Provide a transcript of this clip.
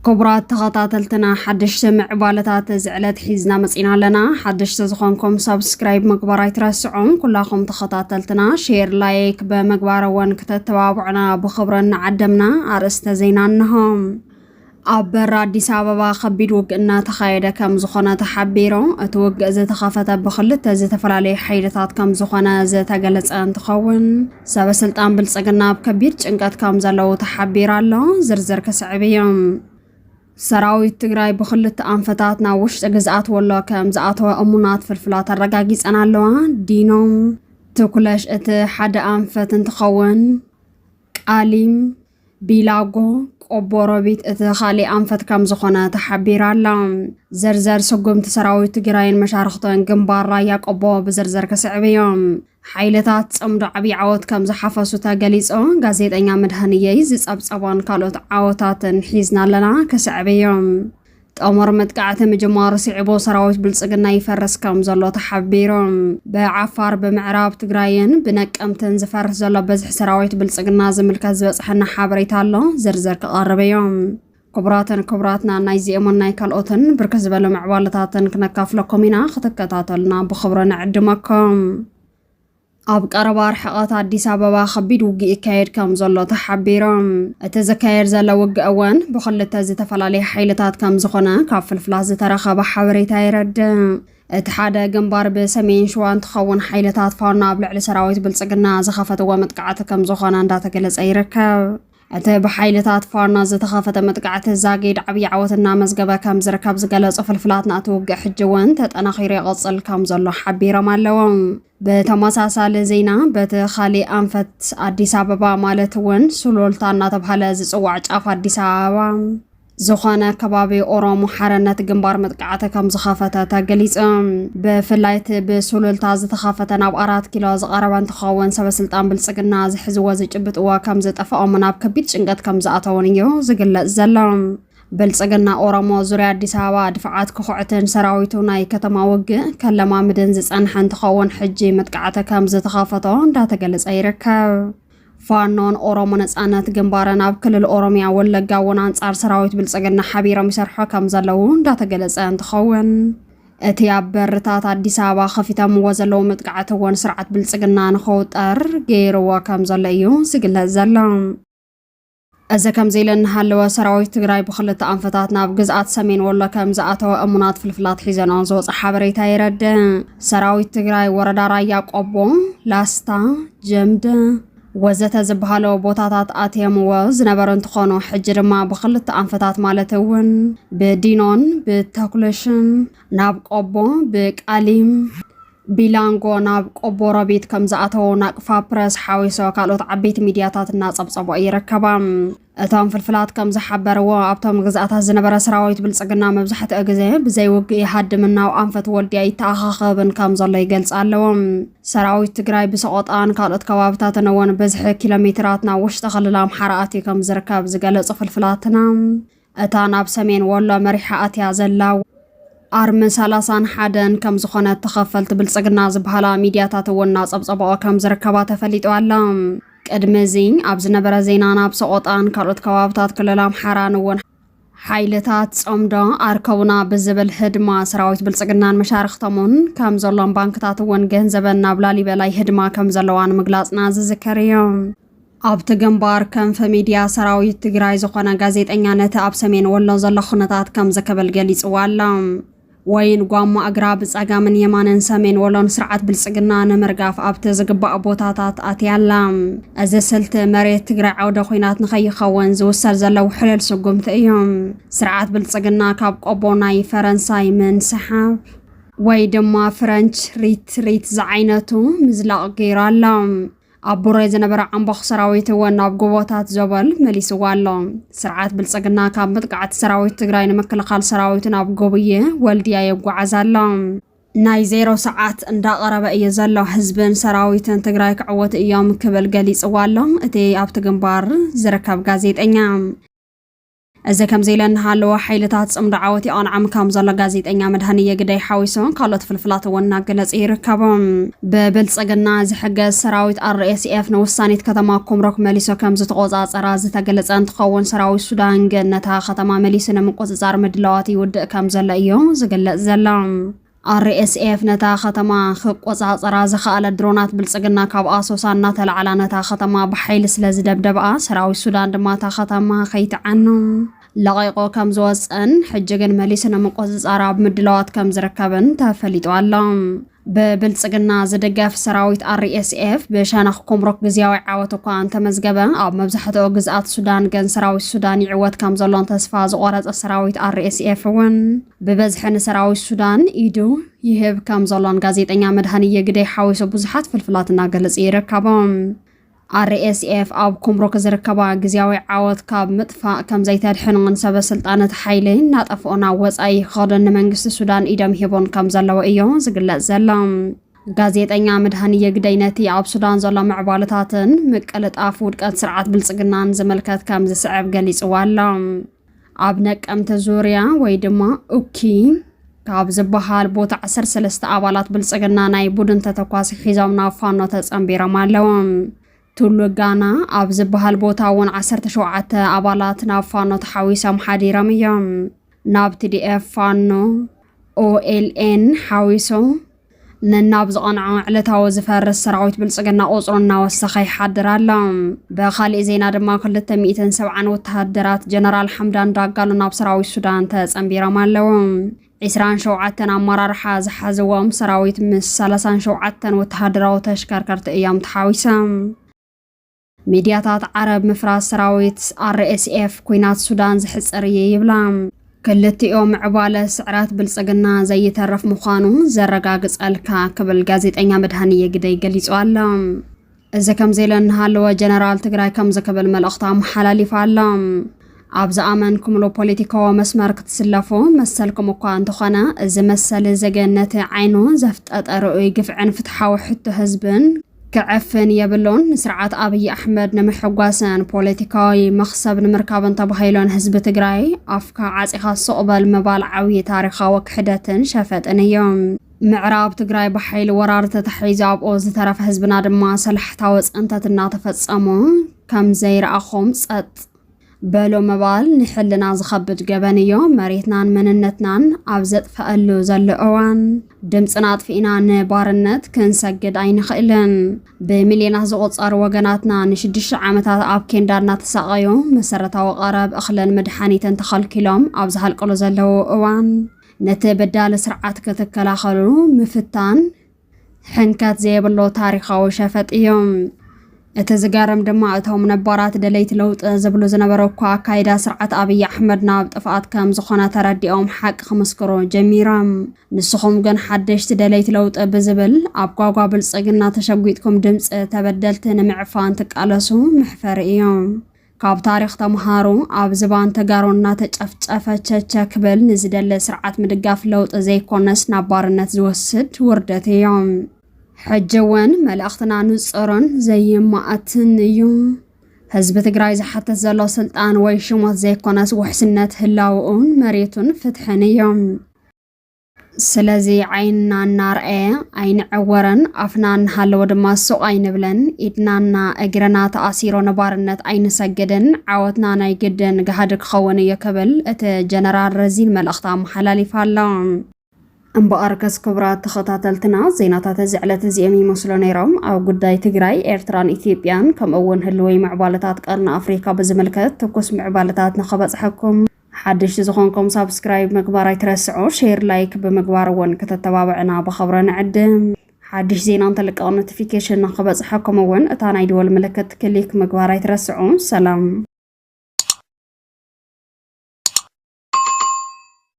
ክቡራት ተኸታተልትና ሓደሽቲ ምዕባለታት እዚ ዕለት ሒዝና መፂና ኣለና ሓደሽቲ ዝኾንኩም ሰብስክራይብ ምግባር ኣይትረስዑን ኩላኹም ተኸታተልትና ሼር ላይክ ብምግባር እውን ክተተባብዑና ብኽብሪ እናዓደምና ኣርእስተ ዜና እንሆም ኣብ በሪ ኣዲስ ኣበባ ከቢድ ውግእ እናተኻየደ ከም ዝኾነ ተሓቢሩ። እቲ ውግእ ዝተኸፈተ ብክልተ ዝተፈላለዩ ሓይልታት ከም ዝኾነ ዝተገለጸ እንትኸውን ሰበ ስልጣን ብልጽግና ኣብ ከቢድ ጭንቀት ከም ዘለዉ ተሓቢሩ ኣሎ። ዝርዝር ክስዕብ እዩ። ሰራዊት ትግራይ ብክልተ ኣንፈታት ናብ ውሽጢ ግዝኣት ወሎ ከም ዝኣተወ እሙናት ፍልፍላት ኣረጋጊፀን ኣለዋ። ዲኖም ትኩለሽ እቲ ሓደ ኣንፈት እንትኸውን ቃሊም ቢላጎ ቆቦሮቢት እቲ ካሊእ ኣንፈት ከም ዝኾነ ተሓቢራ ኣላ። ዝርዝር ስጉምቲ ሰራዊት ትግራይን መሻርኽቶን ግንባር ራያ ቆቦ ብዝርዝር ክስዕብ እዩ። ሓይልታት ጽምዶ ዓብዪ ዓወት ከም ዝሓፈሱ ተገሊጹ። ጋዜጠኛ መድሃንየይ ዝጸብጸቦን ካልኦት ዓወታትን ሒዝና ኣለና ክስዕብ እዩ። ጥሙር መጥቃዕቲ ምጅማሩ ስዒቡ ሰራዊት ብልፅግና ይፈርስ ከም ዘሎ ተሓቢሩ። ብዓፋር ብምዕራብ ትግራይን ብነቀምትን ዝፈርስ ዘሎ በዝሒ ሰራዊት ብልፅግና ዝምልከት ዝበፅሐና ሓበሬታ ኣሎ፣ ዝርዝር ክቐርብ እዩ። ክቡራትን ክቡራትና ናይዚኦምን ናይ ካልኦትን ብርክት ዝበሉ ምዕባለታትን ክነካፍለኩም ኢና፣ ክትከታተሉና ብኽብሪ ንዕድመኩም። ኣብ ቀረባ ርሕቐት ኣዲስ ኣበባ ከቢድ ውግእ ይካየድ ከም ዘሎ ተሓቢሮም እቲ ዝካየድ ዘሎ ውግእ እውን ብክልተ ዝተፈላለየ ሓይልታት ከም ዝኾነ ካብ ፍልፍላት ዝተረኸበ ሓበሬታ የረድእ። እቲ ሓደ ግንባር ብሰሜን ሸዋ እንትኸውን ሓይልታት ፋኖ ኣብ ልዕሊ ሰራዊት ብልፅግና ዝኸፈትዎ መጥቃዕቲ ከም ዝኾነ እንዳተገለፀ ይርከብ። እቲ ብሓይልታት ፋና ዝተኸፈተ መጥቃዕቲ ዛጊድ ዓብዪ ዓወት እናመዝገበ ከም ዝርከብ ዝገለጹ ፍልፍላትና እቲ ውግእ ሕጂ እውን ተጠናኺሩ ይቕጽል ከም ዘሎ ሓቢሮም ኣለዉ። ብተመሳሳሊ ዜና በቲ ካሊእ ኣንፈት ኣዲስ ኣበባ ማለት እውን ሱሉልታ እናተብሃለ ዝጽዋዕ ጫፍ ኣዲስ ኣበባ ዝኾነ ከባቢ ኦሮሞ ሓርነት ግንባር መጥቃዕቲ ከም ዝኸፈተ ተገሊጹ። ብፍላይ እቲ ብሱሉልታ ዝተኸፈተ ናብ ኣራት ኪሎ ዝቐረበ እንትኸውን ሰበስልጣን ብልጽግና ዝሕዝዎ ዝጭብጥዎ ከም ዝጠፍኦምን ኣብ ከቢድ ጭንቀት ከም ዝኣተውን እዩ ዝግለጽ ዘሎ። ብልጽግና ኦሮሞ ዙርያ ኣዲስ ኣበባ ድፍዓት ክኹዕትን ሰራዊቱ ናይ ከተማ ውግእ ከለማምድን ዝጸንሐ እንትኸውን ሕጂ መጥቃዕቲ ከም ዝተኸፈቶ እንዳተገለጸ ይርከብ። ፋኖን ኦሮሞ ነፃነት ግንባርን ኣብ ክልል ኦሮሚያ ወለጋ እውን ኣንጻር ሰራዊት ብልፅግና ሓቢሮም ይሰርሑ ከም ዘለዉ እንዳተገለፀ እንትኸውን እቲ ኣብ በርታት ኣዲስ ኣበባ ከፊተምዎ ዘለዉ መጥቃዕቲ እውን ስርዓት ብልፅግና ንኸውጠር ገይርዎ ከም ዘሎ እዩ ዝግለጽ ዘሎ። እዚ ከምዚ ኢሉ እናሃለወ ሰራዊት ትግራይ ብኽልተ ኣንፈታት ናብ ግዝኣት ሰሜን ወሎ ከም ዝኣተወ እሙናት ፍልፍላት ሒዘንኦ ዝወፀ ሓበሬታ የረድእ። ሰራዊት ትግራይ ወረዳ ራያ ቆቦ፣ ላስታ፣ ጀምደ ወዘተ ዝበሃሉ ቦታታት ኣትየምዎ ዝነበሩ እንትኾኑ ሕጂ ድማ ብኽልተ ኣንፈታት ማለት እውን ብዲኖን ብተኩለሽን ናብ ቆቦ ብቃሊም ቢላንጎ ናብ ቆቦ ሮቢት ከም ዝኣተዉ ናቅፋ ፕረስ ሓዊሶ ካልኦት ዓበይቲ ሚድያታት እናጸብጸቦ ይርከባ። እቶም ፍልፍላት ከም ዝሓበርዎ ኣብቶም ግዝኣታት ዝነበረ ሰራዊት ብልጽግና መብዛሕትኡ ግዜ ብዘይ ውግእ ይሃድምን ናብ ኣንፈት ወልድያ ይተኣኻኸብን ከም ዘሎ ይገልጽ ኣለዎ። ሰራዊት ትግራይ ብሰቆጣን ካልኦት ከባብታትን እውን ብዝሒ ኪሎ ሜትራት ናብ ውሽጢ ክልል ኣምሓራ ኣትዩ ከም ዝርከብ ዝገለጹ ፍልፍላትና እታ ናብ ሰሜን ወሎ መሪሓ ኣትያ ዘላ ኣርሚ ሰላሳን ሓደን ከም ዝኾነት ተኸፈልቲ ብልጽግና ዝበሃላ ሚድያታት እውን እናጸብጸበኦ ከም ዝርከባ ተፈሊጡ ኣሎ። ቅድሚ እዚ ኣብ ዝነበረ ዜና ናብ ሰቖጣን ካልኦት ከባብታት ክልል ኣምሓራን እውን ሓይልታት ጸምዶ ኣርከቡና ብዝብል ህድማ ሰራዊት ብልጽግናን መሻርኽቶምን ከም ዘሎን ባንክታት እውን ገንዘበን ናብ ላሊበላይ ህድማ ከም ዘለዋን ምግላጽና ዝዝከር እዩ። ኣብቲ ግንባር ከንፈ ሚድያ ሰራዊት ትግራይ ዝኾነ ጋዜጠኛ ነቲ ኣብ ሰሜን ወሎ ዘሎ ኩነታት ከምዚ ክብል ገሊፅዎ ኣሎ። ወይን ጓማ እግራ ብፀጋምን የማንን ሰሜን ወሎ ንስርዓት ብልፅግና ንምርጋፍ ኣብቲ ዝግባእ ቦታታት ኣትያ ኣላ። እዚ ስልቲ መሬት ትግራይ ዓውደ ኹናት ንከይኸውን ዝውሰድ ዘሎ ውሕሉል ስጉምቲ እዩ። ስርዓት ብልፅግና ካብ ቆቦ ናይ ፈረንሳይ ምንስሓብ ወይ ድማ ፍረንች ሪትሪት ዝዓይነቱ ምዝላቕ ገይሩ ኣሎ። ኣብ ቡሬ ዝነበረ ዓምቦኽ ሰራዊት እውን ናብ ጎቦታት ዞበል መሊስዎ ኣሎ። ስርዓት ብልፅግና ካብ መጥቃዕቲ ሰራዊት ትግራይ ንምክልኻል ሰራዊቱ ናብ ጎብዬ ወልድያ የጓዓዝ ኣሎ። ናይ ዜሮ ሰዓት እንዳቐረበ እዩ ዘሎ፣ ህዝብን ሰራዊትን ትግራይ ክዕወቱ እዮም ክብል ገሊፅዎ ኣሎ እቲ ኣብቲ ግንባር ዝርከብ ጋዜጠኛ። እዚ ከምዚ ኢለ እናሃለወ ሓይልታት ፅምዶ ዓወት ይቐንዖም ከም ዘሎ ጋዜጠኛ መድሃንየ ግደይ ሓዊሱ ካልኦት ፍልፍላት እውን እናገለፂ ይርከቡ። ብብልፅግና ዝሕገዝ ሰራዊት RSF ንውሳኔት ከተማ ኩምሮክ መሊሱ ከም ዝተቖፃፀራ ዝተገለፀ እንትኸውን ሰራዊት ሱዳን ግን ነታ ከተማ መሊሱ ንምቁፅፃር ምድላዋት ይውድእ ከም ዘሎ እዩ ዝግለፅ ዘሎ። RSF ነታ ከተማ ክቆጻጸራ ዝኸኣለ ድሮናት ብልጽግና ካብ ኣሶሳ እናተላዕላ ነታ ከተማ ብሓይሊ ስለ ዝደብደብኣ ሰራዊት ሱዳን ድማ እታ ከተማ ከይትዓኑ ለቒቑ ከም ዝወጸን ሕጂ ግን መሊሱ ንምቁጽጻር ኣብ ምድላዋት ከም ዝርከብን ተፈሊጡ ኣሎ። ብብልጽግና ዝድገፍ ሰራዊት RSF ብሸነኽ ኩምሩክ ግዝያዊ ዓወት እኳ እንተመዝገበ ኣብ መብዛሕትኦ ግዝኣት ሱዳን ግን ሰራዊት ሱዳን ይዕወት ከም ዘሎን ተስፋ ዝቖረጸ ሰራዊት RSF እውን ብበዝሒ ንሰራዊት ሱዳን ኢዱ ይህብ ከም ዘሎን ጋዜጠኛ መድሃንየ ግደይ ሓዊሱ ብዙሓት ፍልፍላት እናገለጹ ይርከቦም። ኣርኤስኤፍ ኣብ ኩምሩክ ዝርከባ ግዜያዊ ዓወት ካብ ምጥፋእ ከም ዘይተድሕኖን ሰበ ስልጣን እቲ ሓይሊ እናጠፍኦ ናብ ወጻኢ ክኸዱን ንመንግስቲ ሱዳን ኢዶም ሂቦን ከም ዘለዎ እዮ ዝግለጽ ዘሎ። ጋዜጠኛ ምድሃን የግደይ ነቲ ኣብ ሱዳን ዘሎ ምዕባለታትን ምቅልጣፍ ውድቀት ስርዓት ብልጽግናን ዝምልከት ከም ዝስዕብ ገሊጽዎ ኣሎ። ኣብ ነቀምተ ዙርያ ወይ ድማ ኡኪ ካብ ዝበሃል ቦታ 13 ኣባላት ብልፅግና ናይ ቡድን ተተኳሲ ሒዞም ናብ ፋኖ ተፀንቢሮም ኣለዉ። ቱሉ ጋና ኣብ ዝበሃል ቦታ እውን 17 ኣባላት ናብ ፋኖ ተሓዊሶም ሓዲሮም እዮም። ናብ ቲዲኤፍ ፋኖ ኦኤልኤን ሓዊሶ ነናብ ዝቐንዖ ዕለታዊ ዝፈርስ ሰራዊት ብልፅግና ቁፅሩ እናወሰኸ ይሓድር ኣሎ። ብካሊእ ዜና ድማ 270 ወተሃደራት ጀነራል ሓምዳን ዳጋሎ ናብ ሰራዊት ሱዳን ተፀንቢሮም ኣለዉ። 27 ኣመራርሓ ዝሓዝዎም ሰራዊት ምስ 37 ወተሃደራዊ ተሽከርከርቲ እዮም ተሓዊሶም። ሚድያታት ዓረብ ምፍራስ ሰራዊት RSF ኲናት ሱዳን ዘሕጽር እዩ ይብላ። ክልቲኡ ምዕባለ ስዕረት ብልጽግና ዘይተርፍ ምዃኑ ዘረጋግጸልካ ክብል ጋዜጠኛ መድሃንየ ግደይ ገሊጹ ኣሎ። እዚ ከምዚ ኢሉ እናሃለወ ጀነራል ትግራይ ከምዚ ክብል መልእኽቱ ኣመሓላሊፉ ኣሎ። ኣብ ዝኣመንኩምሉ ፖለቲካዊ መስመር ክትስለፉ መሰልኩም እኳ እንተኾነ እዚ መሰል እዚ ግን ነቲ ዓይኑ ዘፍጠጠ ርኡይ ግፍዕን ፍትሓዊ ሕቶ ህዝብን ክዕፍን የብሉን። ንስርዓት ኣብይ ኣሕመድ ንምሕጓስን ፖለቲካዊ መኽሰብ ንምርካብን ተባሂሎ ንህዝቢ ትግራይ ኣፍካ ዓፂኻ ሱቕ በል ምባል ዓብዪ ታሪኻዊ ክሕደትን ሸፈጥን እዩ። ምዕራብ ትግራይ ብሓይሊ ወራር ተታሒዙ ኣብኦ ዝተረፈ ህዝብና ድማ ሰላሕታዊ ፅንተት እናተፈፀሞ ከም ዘይረኣኹም ፀጥ በሎ ምባል ንሕልና ዝኸብድ ገበን እዮ። መሬትናን መንነትናን ኣብ ዘጥፈኣሉ ዘሎ እዋን ድምፅና ኣጥፊእና ንባርነት ክንሰግድ ኣይንኽእልን። ብሚልዮናት ዝቑፀሩ ወገናትና ንሽዱሽተ ዓመታት ኣብ ኬንዳ እናተሳቐዩ መሰረታዊ ቀረብ እኽልን መድሓኒትን ተኸልኪሎም ኣብ ዝሃልቅሉ ዘለዉ እዋን ነቲ በዳሊ ስርዓት ክትከላኸሉ ምፍታን ሕንከት ዘየብሎ ታሪኻዊ ሸፈጥ እዩ። እቲ ዝገርም ድማ እቶም ነባራት ደለይቲ ለውጢ ዝብሉ ዝነበሩ እኳ ኣካይዳ ስርዓት ኣብይ ኣሕመድ ናብ ጥፍኣት ከም ዝኾነ ተረዲኦም ሓቂ ክምስክሩ ጀሚሮም። ንስኹም ግን ሓደሽቲ ደለይቲ ለውጢ ብዝብል ኣብ ጓጓ ብልፅግና ተሸጒጥኩም ድምፂ ተበደልቲ ንምዕፋን ትቃለሱ መሕፈሪ እዩ። ካብ ታሪኽ ተምሃሩ ኣብ ዝባን ተጋሩ እናተጨፍጨፈ ቸቸ ክብል ንዝደለ ስርዓት ምድጋፍ ለውጢ ዘይኮነስ ናብ ባርነት ዝወስድ ውርደት እዩ። ሕጂ እውን መልእኽትና ንፁርን ዘይማእትን እዩ። ህዝቢ ትግራይ ዝሓትት ዘሎ ስልጣን ወይ ሽሞት ዘይኮነስ ውሕስነት ህላውኡን መሬቱን ፍትሕን እዩ። ስለዚ ዓይንና እናርኣየ ኣይንዕወርን፣ ኣፍና እናሃለወ ድማ ሱቕ ኣይንብልን፣ ኢድናና እግርና ተኣሲሩ ንባርነት ኣይንሰግድን፣ ዓወትና ናይ ግድን ጋህዲ ክኸውን እዩ ክብል እቲ ጀነራል ረዚን መልእኽቲ ኣመሓላሊፉ ኣሎ። እምበኣርከስ ክቡራት ተኸታተልትና ዜናታት እዚ ዕለት እዚኦም ይመስሉ ነይሮም። ኣብ ጉዳይ ትግራይ፣ ኤርትራን ኢትዮጵያን ከምኡ እውን ህልወይ ምዕባለታት ቀርኒ ኣፍሪካ ብዝምልከት ትኩስ ምዕባለታት ንኸበፅሐኩም ሓደሽቲ ዝኾንኩም ሳብስክራይብ ምግባር ኣይትረስዑ፣ ሼር ላይክ ብምግባር እውን ክተተባብዕና ብኸብረ ንዕድም። ሓድሽ ዜና እንተልቀቕ ኖቲፊኬሽን ንክበፅሐኩም እውን እታ ናይ ደወል ምልክት ክሊክ ምግባር ኣይትረስዑ። ሰላም